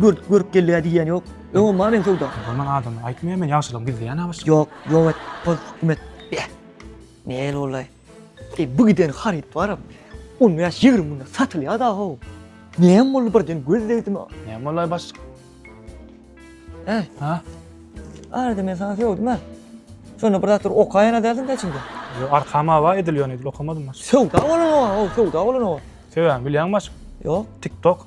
Görk görk geldiga diýýän ýok. Öň omma men söwda. Durman adamyň aýtmaýa men ýagşylygyň gizleýän abyş. Ýok ýok et toz hukm et. Beh. Nel ollaý. Eý bu giden haryt baram on bäş ýigrimi günde satylýa da how. Näm boldy birden göz degdimi. Näm bollaý baş. Äý. Ha. Arada men saňa söwdim a. Şonda bir zatlar okaýan a däldiň da içiňde. Ýok arkam awa edil ýone edil okamadym baş. Söwda bolan owa how söwda bolan owa. Söwäni bilýäňmi baş. Ýok. Tik tok.